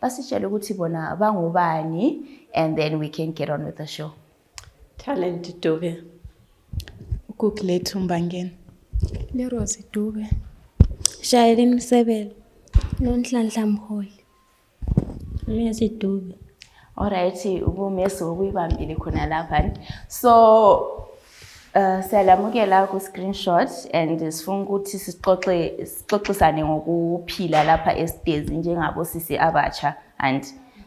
basitshele ukuthi bona bangubani and then we can get on with the show talent dube ukuku lethu mbangeni lerosi dube shayelini msebelo nonhlanhla mholi mesi dube alright ubumesi wokuyibambile khona laphani so Uh, siyalamukela ku-screenshot and sifuna ukuthi sixoxisane ngokuphila lapha esitezi njengabo sisi abatsha and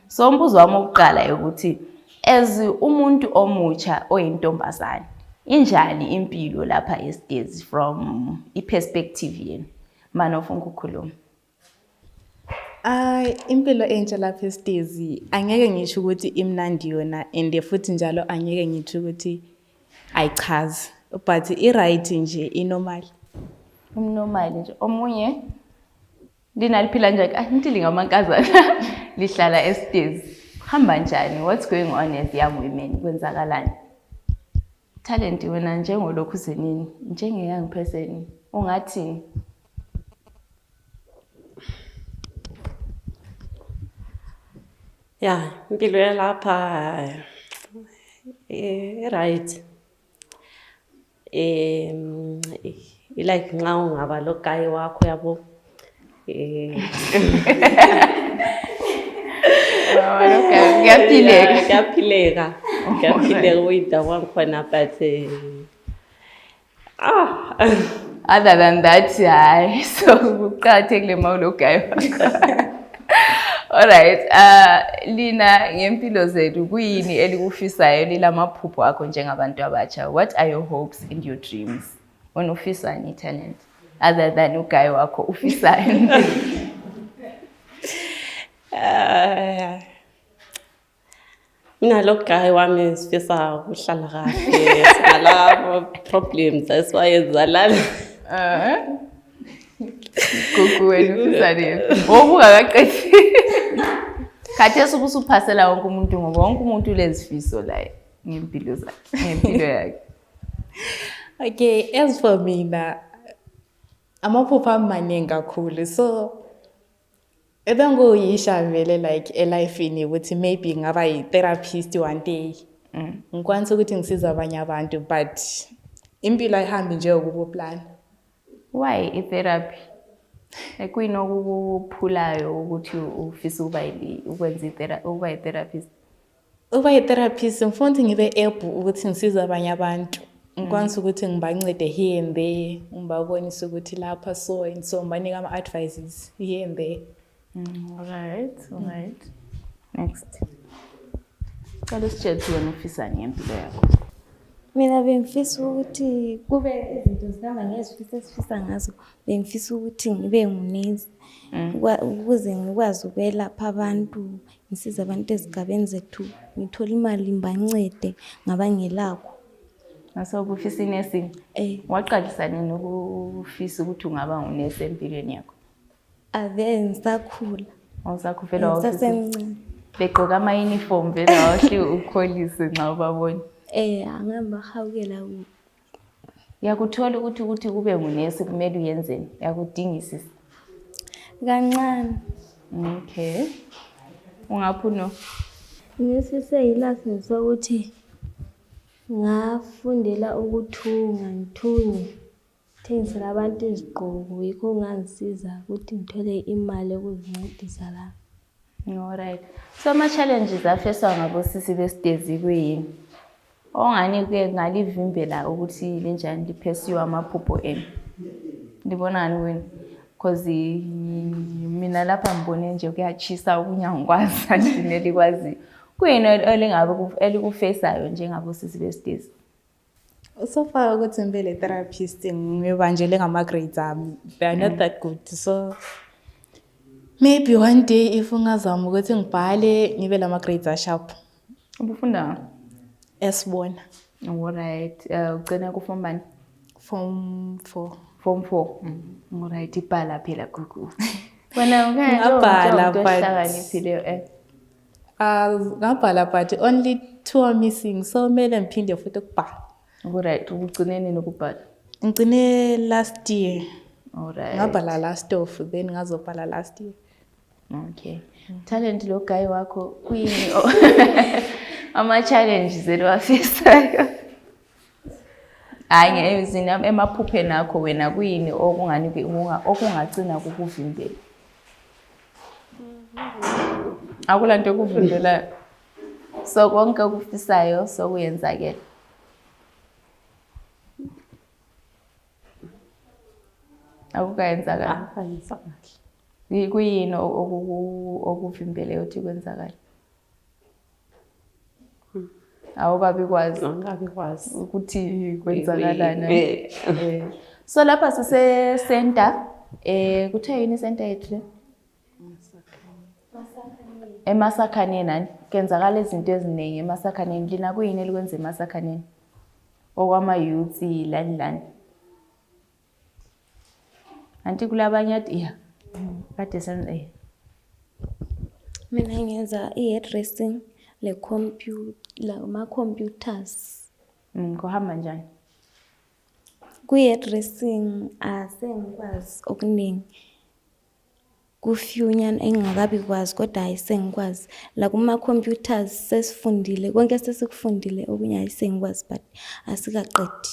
so umbuzo wami wokuqala ukuthi as umuntu omutsha oyintombazane injani impilo lapha esitezi from i-perspective yenu mane ufuna ukukhuluma Ay impilo entsha lapha esitezi angeke ngisho ukuthi imnandi yona and futhi njalo angeke ngisho ukuthi ayichazi but i-right nje inormal umnormal nje omunye linaliphila nje ayi ngithi lingamankazana lihlala esitezi hamba njani what's going on as young women kwenzakalani Talent wena njengolokhu zenini njengeyoung person ungathini? Ya, impilo yalapha eh, i-right. Em, i-like nxa ungaba logayi wakho yabo. kuyaphilela kuyaphilela uyida kwangikhona but ah other than that hayi so kuqakathekile ma ulogayo Alright, uh, Lina ngempilo zethu kuyini elikufisayo lilamaphupho akho njengabantu abatsha? What are your hopes and your dreams? wena ufisani italent other than ugayi wakho ufisani Eh, mina lo guy wami sifisa ukuhlala kahle sinalabo problems that's why ezalala Eh? gugu wena ufisani wobungakaqethi khathesi ubusuphasela wonke umuntu ngoba wonke umuntu ulezifiso laye ngempilo zakhe ngempilo yakhe okay as for mina amaphupho amaningi kakhulu so ebengiyisha vele like elifini ukuthi maybe ngaba yi-therapist one day mm. ngikwanisa ukuthi ngisiza abanye abantu but impilo ayihambi nje ukukuplana why i-therapy ekuyini okukuphulayo ukuthi ufisa ukuba ukwenza ukuba yi-therapist Uba yi-therapist ngifuna ngibe able ukuthi ngisize abanye abantu ngikwanisa mm. ukuthi ngibancede here and there ngibabonise ukuthi lapha so and so ngibanike ama-advices here and there mm, right mm. right next cala usitshele ukuthi wena ufisani ngempilo yakho mina bengifisa ukuthi kube izinto zihamba ngezifisa esifisa ngazo bengifisa ukuthi ngibe ngunesi ukuze ngikwazi ukwelapha abantu Ngisiza abantu ezigabeni zethu ngithole imali ngibancede ngabangelakho. Ngasobufisa inursing. Eh. Waqalisa nini ukufisa ukuthi ungaba ngunesi empilweni yakho? Ave ngisakhula. Awusakhufela wawufisa. Ngisasemncane. Begqoka ama uniform vele wahle ukholise nxa ubabona. Eh, angihamba hawukela kubo. Uyakuthola ukuthi ukuthi kube ngunesi kumele uyenzeni? Uyakudingisisa? Kancane. Okay. Ungaphi uno? Ngisise yilasini sokuthi ngafundela ukuthunga ngithunge thengisela abantu izigqoko yikho okungangisiza ukuthi ngithole imali yokuzincedisa lami. Alright. So ama-challenges afeswa ngabosisi besitezi kuyini? Ongani kuye ngalivimbela ukuthi linjani liphesiwe amaphupho enu. Ndibona ngani kuyini? Because mina lapha ngibone nje kuyatshisa okunye angikwazi andineli kwaziyo. Kuyini elingabe elikufesayo njengabosisi besitezi? so far ukuthi ngibe le therapist ngibanjele ngama-grades ami they are not mm. that good so maybe one day if ungazama ukuthi ngibhale ngibe la ma-grades asharp ubufunda esibona olright um uh, ugcina kufom bani fom four fom four mm. olright ibhala phela gugu wena ungabhala but Ah, ngabhala but only two are missing so mele ngiphinde futhi ukubhala Alright, ukugcine nini ukubhala? ngigcine last year Alright. ngabhala last of then ngazobhala last year Okay. Talent lo guy wakho kuyini? o- Ama challenges eliwafisayo. hayi ngemizini emaphupheni akho wena kuyini okungani okungagcina kukuvimbela akula nto ekuvimbelayo so konke okufisayo sokuyenzakela akukayenzakali ah, kuyini okuvimbeleyo ukuthi kwenzakale awukabi kwazi awukabi kwazi ukuthi kwenzakalani eh. eh. so lapha sise center eh kuthe yini center yethu emasakhaneni nani kenzakala izinto eziningi emasakhaneni lina kuyini elikwenza emasakhaneni okwama-youth lani lani Anti kulabanye ati ya. Kade senza eh. Mina ngenza i-hairdressing le computer la ma computers. Mm, kuhamba njani? Kwi-hairdressing asengikwazi okuningi. kufewunyana engingakabi kwazi kodwa hayi sengikwazi lakuma computers sesifundile konke sesikufundile okunye hayi sengikwazi but asikaqedi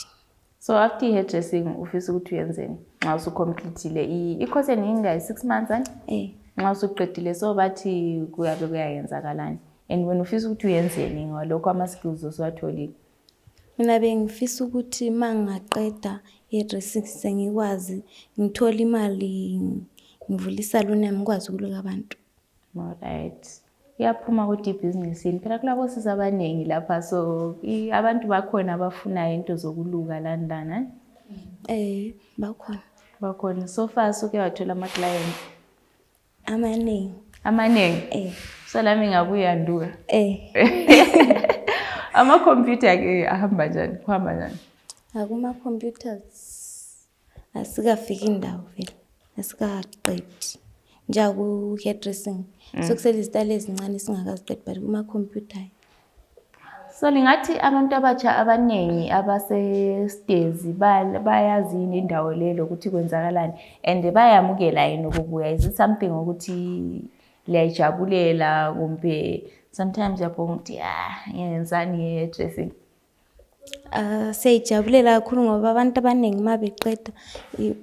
so after i-hair dressing ufisa ukuthi uyenzeni nxa usucomplethile i-course eniyingayi six months ani eh. nxa usuqedile so bathi kuyabe kuyayenzakalani and wena ufisa ukuthi uyenzeni ngalokho ama-skills osuwatholile Mina bengifisa ukuthi mangaqeda ihairdressing sengikwazi ngithole imali ngivule isaluni yami ngikwazi ukuluka abantu. Alright. Iyaphuma kodwa ibhizinisi yini? Phela kulabosisi abaningi lapha so i- abantu bakhona abafunayo into zokuluka lani lana. Eh bakhona. Bakhona. So far suke wathola ama-clients. amanengi amanengi eh. so lami ngabuya nduka eh. amakhompyutha ke ahamba njani kuhamba njani akumacomputers asikafiki ndawo vele asikaqedi njengaku-hairdressing mm. sokusele izitali ezincane singakaziqedi but kuma-computer So lingathi abantu abatsha abanengi abasestezi bayazi yini indawo le lokuthi kwenzakalani and bayamukela yini ukubuya is it something ukuthi liyayijabulela kumbe sometimes uyabhonga ukuthi ya ah, ngenzani ye-dressing Uh, siyayijabulela kakhulu ngoba abantu abaningi uma beqeda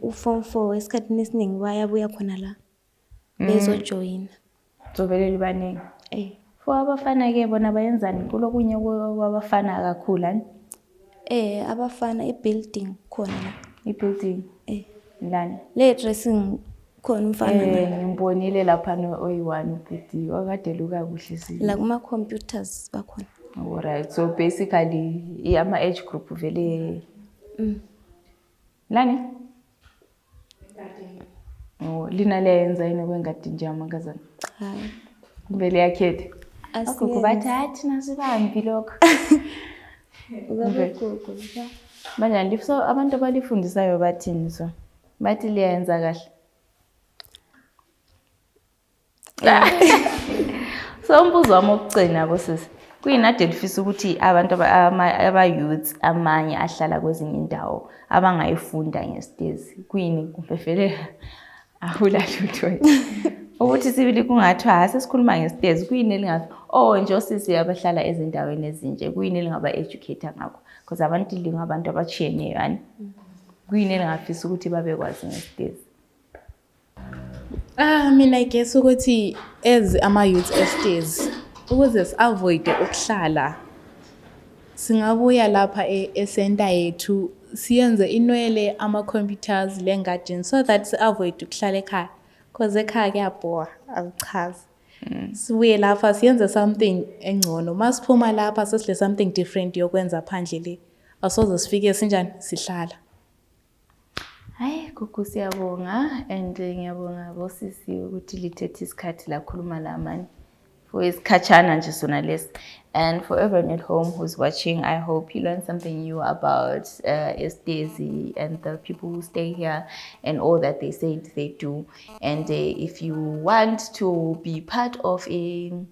u-form four esikhathini esiningi bayabuya khona la bezojoyina mm. zovele libanengi eh. fo abafana ke bona bayenzani kulokunye kwabafana kakhulu ani eh abafana ibuilding khona la ibuilding eh lani le dressing khona umfana eh ngimbonile lapha no oyi-one ubhidi wakade luka kuhle sile la kuma-computers bakhona alright so basically ama-age group vele mm. Nani? Oh, lina liyayenza yini kwengadi nje amakazana hayi kumbe liyakhetha agogo bathi hayi thina sibambi lokho banjani so abantu abalifundisayo bathini so bathi liyayenza kahle so umbuzo wami okugcina kusisi kuyinadi elifisa ukuthi abantu abayouth amanye ahlala kwezinye indawo abangayifunda ngesitezi kuyini kumbe vele ahulalutho ukuthi sibili kungathiwa hha sesikhuluma ngesitezi kuyini elingathi o oh, nje osisi abahlala ezindaweni ezinje kuyini elingaba-educate ngakho because abantu lingabantu abatshiyeneyo ani kuyini elingafisa ukuthi babekwazi ngesitezi Ah, mina I guess ukuthi as ama youth estes ukuze si avoid ukuhlala singabuya lapha e, e center yethu siyenze inwele ama computers le garden so that si avoid ukuhlala ekhaya cause ekhaya kuyabhowa akuchazi mm. sibuye lapha siyenze something engcono masiphuma lapha sesile something different yokwenza phandle le asoze sifike sinjani sihlala Hayi Gugu siyabonga and ngiyabonga bosisi ukuthi lithethe isikhathi lakhuluma lamani for isikhatshana nje sona lesi and for everyone at home who's watching i hope you learned something new about uh, estezi and the people who stay here and all that they said they do and uh, if you want to be part of a